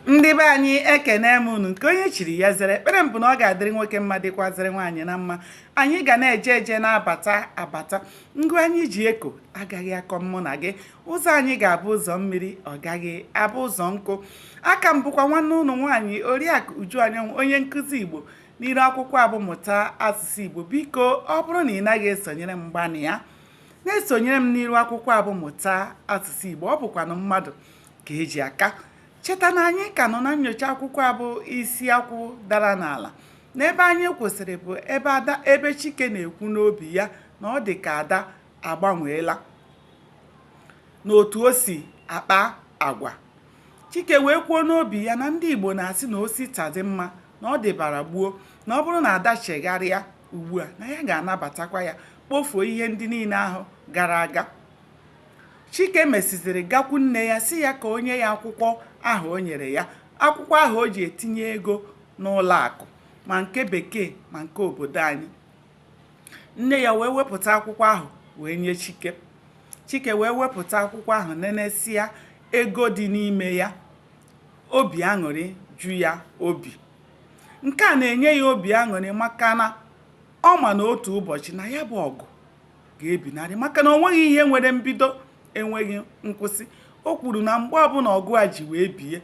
ndị be anyị ekene m unu nke onye chiri ya zere ekpere m bụ na ọ ga-adịrị nwoke mma dịkwazịrị nwaanyị mma anyị ga na-eje eje na-abata abata ngụ anyị ji eko agaghị akọ mụ na gị ụzọ anyị ga-abụ ụzọ mmiri ọ gaghị abụ ụzọ nkụ aka m bụkwa nwanne unu nwaanyị oriakụ uju anyanwụ onye nkụzi igbo n'iru akwụkwọ a bụ mụta asụsụ igbo biko ọ bụrụ na ị naghị esonyere m gbanịa na-esonyere m n'iru akwụkwọ a bụ mụta asụsụ igbo ọ bụkwanụ mmadụ ka e ji aka cheta na anyị ka nọ na nyocha akwụkwọ a bụ isi akwụ dara n'ala na ebe anyị kwụsịrị bụ ebe ada ebe chike na-ekwu n'obi ya na ọ dị ka ada agbanweela n'otu o si akpa agwa chike wee kwuo n'obi ya na ndị igbo na-asị na o si taa dị mma na ọ dịbara gboo na ọ bụrụ na ada chegharịa ugbu a na ya ga-anabatakwa ya kpofuo ihe ndị niile ahụ gara aga Chike mesịzịrị gakwu nne ya sị ya ka o nye ya akwụkwọ ahụ o nyere ya, akwụkwọ ahụ o ji etinye ego n'ụlọ akụ ma nke bekee ma nke obodo anyị. Nne ya wee wepụta akwụkwọ ahụ wee nye Chike. Chike wee wepụta akwụkwọ ahụ nenesịa ego dị n'ime ya, obi aṅụrị ju ya obi. Nke a na-enye ya obi aṅụrị maka na ọ ma na otu ụbọchị na ya bụ ọgụ ga-ebinarị maka na o nweghị ihe nwere mbido enweghị nkwụsị o kwuru na mgbe ọbụla ọgụ a ji wee bie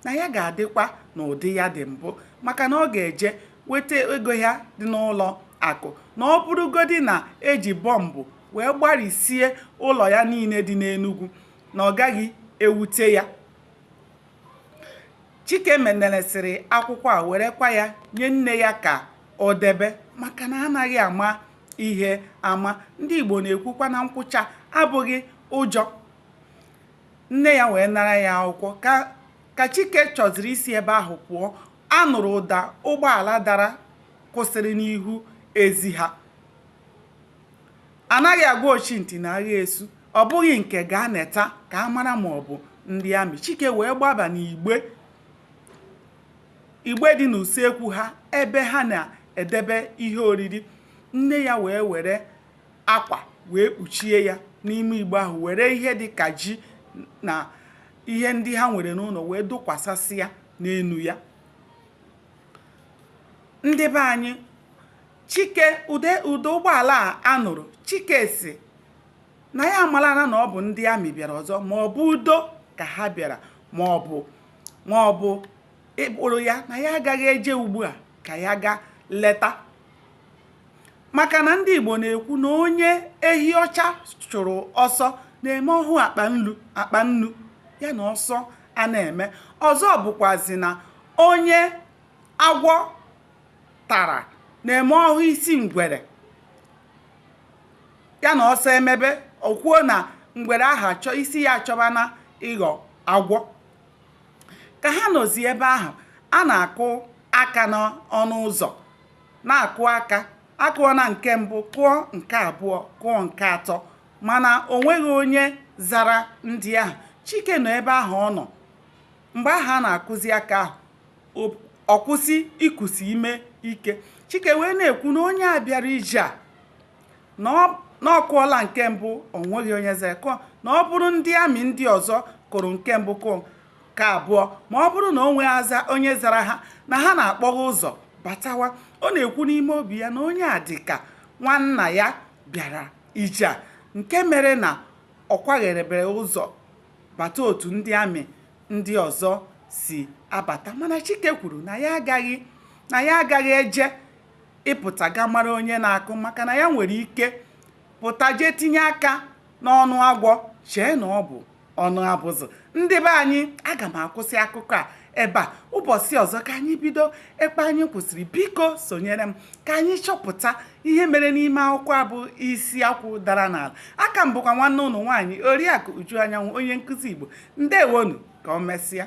na ya ga-adịkwa n'ụdị ya dị mbụ maka na ọ ga-eje weta ego ya dị n'ụlọ akụ na ọ bụrụgodi na eji bọmbụ wee gbarisie ụlọ ya niile dị n'Enugu na ọ gaghị ewute ya Chike neneresịrị akwụkwọ a werekwa ya nye nne ya ka o debe maka na anaghị ama ihe ama ndị Igbo na-ekwukwa na nkwụcha abụghị ụjọ nne ya wee nara ya akwụkwọ ka Chike chọzịrị isi ebe ahụ pụọ a nụrụ ụda ụgbọala dara kwụsịrị n'ihu ezi ha anaghị agwa ochi ntị na agha esu ọ bụghị nke gaa neta ka a mara ma ọ bụ ndị amị Chike wee gbaba n'igbe igbe dị n'usekwu ha ebe ha na-edebe ihe oriri nne ya wee were akwa wee kpuchie ya n'ime igbe ahụ were ihe dị ka ji na ihe ndị ha nwere n'ụlọ wee dokwasasịa n'enu ya ndị be anyị chike ụda ụgbọala a nụrụ chike sị na ya amarana na ọ bụ ndị amị bịara ọzọ ma ọ bụ udo ka ha bịara ma ọ bụ ma ọ bụ ịkpọrọ ya na ya agaghị eje ugbu a ka ya gaa leta maka na ndị Igbo na-ekwu na onye ehi ọcha chụrụ ọsọ na-eme ọ hụ akpa nnu ya na ọsọ a na-eme ọzọ bụkwazi na onye agwọ tara na-eme ọ hụ isi ngwere ya na ọsọ emebe o kwuo na ngwere ahụ isi ya achọbana ịghọ agwọ ka ha nọzi ebe ahụ a na-akụ aka n'ọnụ ụzọ na-akụ aka a kụọ na nke mbụ kụọ nke abụọ kụọ nke atọ mana o nweghị onye zara ndị ahụ chike nọ ebe ahụ ọ nọ mgbe ahụ a na-akụzi aka ahụ ọ kwụsị ikusi ume ike chike wee na-ekwu na onye a bịara ije a na ọ na ọ kụọla nke mbụ o nweghị onye zara kụọ na ọ bụrụ ndị amị ndị ọzọ kụrụ nke mbụ kụọ nke abụọ ma ọ bụrụ na o nweghị onye zara ha na ha na-akpọghe ụzọ batawa ọ na-ekwu n'ime obi ya na onye a dị ka nwanna ya bịara ije a nke mere na ọ kwagherebere ụzọ bata otu ndị amị ndị ọzọ si abata mana chike kwuru na ya agaghị na ya agaghị eje ịpụta ga mara onye na-akụ maka na ya nwere ike pụta jee tinye aka n'ọnụ agwọ chee na ọ bụ ọnụ abụzụ ndị be anyị aga m akwụsị akụkọ a ebe a ụbọchị ọzọ ka anyị bido ebe anyị kwụsịrị biko sonyere m ka anyị chọpụta ihe mere n'ime akwụkwọ a bụ isi akwụ dara n'ala a ka m bụkwa nwanne unu nwaanyị oriakụ uju anyanwụ onye nkụzi igbo ndewonu ka o mesịa